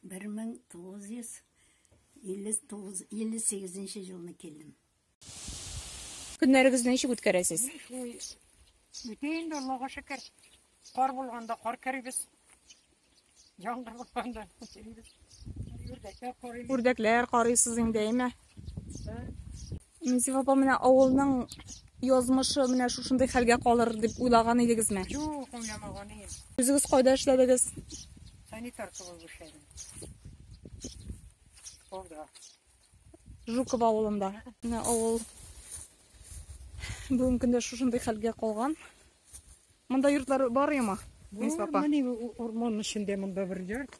Бер мең тугыз йөз илле тугыз илле сигезенче жылны килдем. Көннәрегезне ничек үткәрәсез? Үтә инде, Аллага шөкер. Кар булганда кар керибез. Яңгыр булганда керибез. Үрдәкләр карыйбыз. Үрдәкләр карыйсыз инде, әйме? Низиф апа, менә авылның язмышы менә шушындый хәлгә калыр дип уйлаган идегезме? Юк, уйламаган идем. Үзегез кайда эшләдегез? Санитар булып эшләдем. Школда. Жуков авылында. Менә авыл бүгенге көндә шушындый хәлгә калган. Монда йортлар бар яма? Низиф апа. Менә урман эчендә монда бер йорт.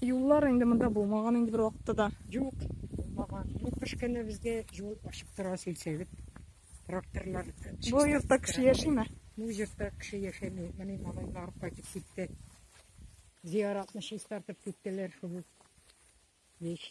Юллар инде монда булмаган инде бер вакытта да. Юк, булмаган. Ну, кыш көне безгә юл ачык тора сөйлсәгез. Тракторлар. Бу йортта кеше яшиме? Бу йортта кеше яшәми. Менә малайлар кайтып китте. Зияратны чистартып киттеләр шул. Еш.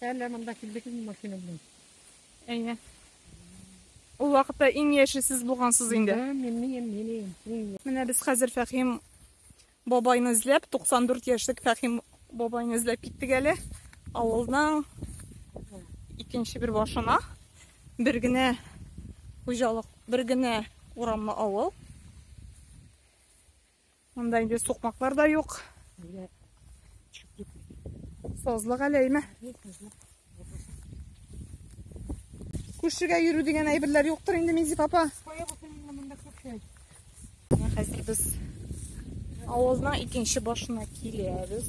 Әллә монда килдегезме машина белән? Әйе. Ул вакытта иң яше сез булгансыз инде. Да, мин мин мин мин. Менә без хәзер Фәхим бабайны эзләп, 94 яшьлек Фәхим бабайны эзләп киттек әле. Авылның икенче бер башына бер генә хуҗалык, бер генә урамлы авыл. Монда инде сукмаклар да юк. Сазлык әле әйме. Күршегә йөрү дигән әйберләр юктыр инде Мизип апа. Хәзер без авызның икенче башына киләбез.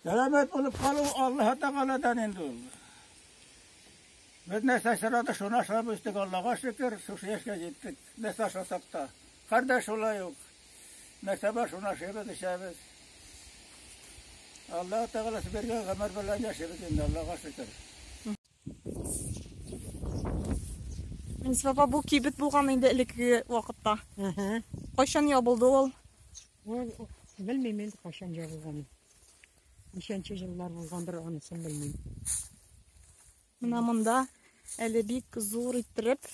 Сәламәт булып калу Аллаһ Тәгаләдән инде ул. Без нәрсә сорады, шуны ашап үстек, Аллаһка шөкер, шушы яшькә җиттек. Нәрсә ашасак та. Хәр дә шулай ук. Нәрсә бар, шуны ашыйбыз, эчәбез. Аллаһ Тәгаләсе биргән гомер белән яшибез инде, Аллаһка шөкер. Әнис баба, бу кибет булган инде элекке вакытта. Ага. Кайчан ябылды ул? Ул белмим инде кайчан ябылганын. Ничәнче еллар булгандыр анысын белмим. Менә монда әле бик зур иттереп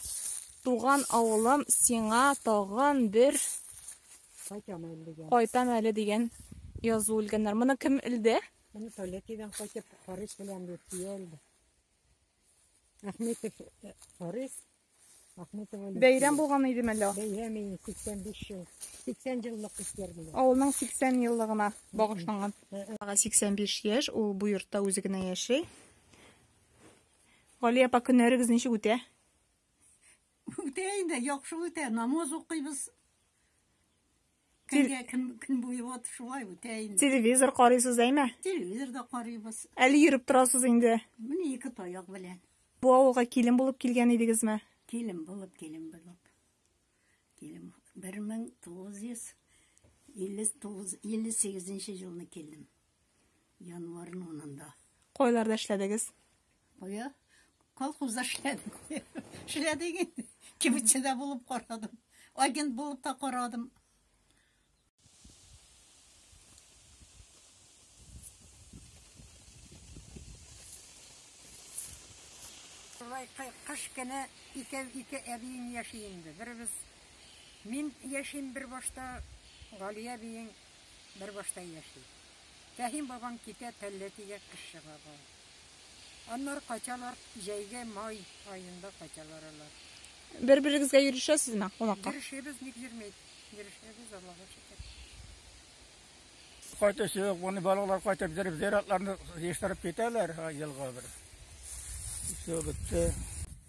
туган авылым сиңа тагын бер Кайтам әле дигән. кайтам әле дигән язу үлгәннәр. Моны кем үлде? Мин Полякидан кайтып Харис белән бит киелде. Ахметов э, Харис, Ахметова Лидия. Бәйрәм булган иде мәллә. Бәйрәм иде 85 ел. 80 еллык үткәрде. Авылның 80 еллыгына багышланган. Ага 85 яшь, ул бу йортта үзе генә яши. Гали апа көннәрегез ничек үтә? Үтә инде, яхшы үтә. Намаз укыйбыз. Көнгә көн, көн буе вот шулай үтә инде. Телевизор карыйсыз, әйме? Телевизор да карыйбыз. Әле йөреп торасыз инде. Менә ике таяк белән. Бу авылга килен булып килгән идегезме? Килен булып, килен булып. Килен 1958 елны килдем. Январның унында. Кайларда эшләдегез? Кая? Колхозда эшләдем. Эшләдек инде. Кибетчедә булып карадым. Агент булып та карадым. Шулай кыш көне икәү ике әбием яши инде. Беребез мин яшим бер башта, Галия әбиең бер башта яши. Фәһим бабаң китә Пәлләтигә кыш чыгага. Аннар качалар җәйге май аенда качалар алар. Бер-берегезгә йөрешәсезме кунакка? Йөрешәбез, ник йөрмәйбез? Йөрешәбез, Аллага шөкер. Кайта сөйөк, буны балалар кайта бетереп, зиратларны ештереп китәләр елга бер. Все бетте.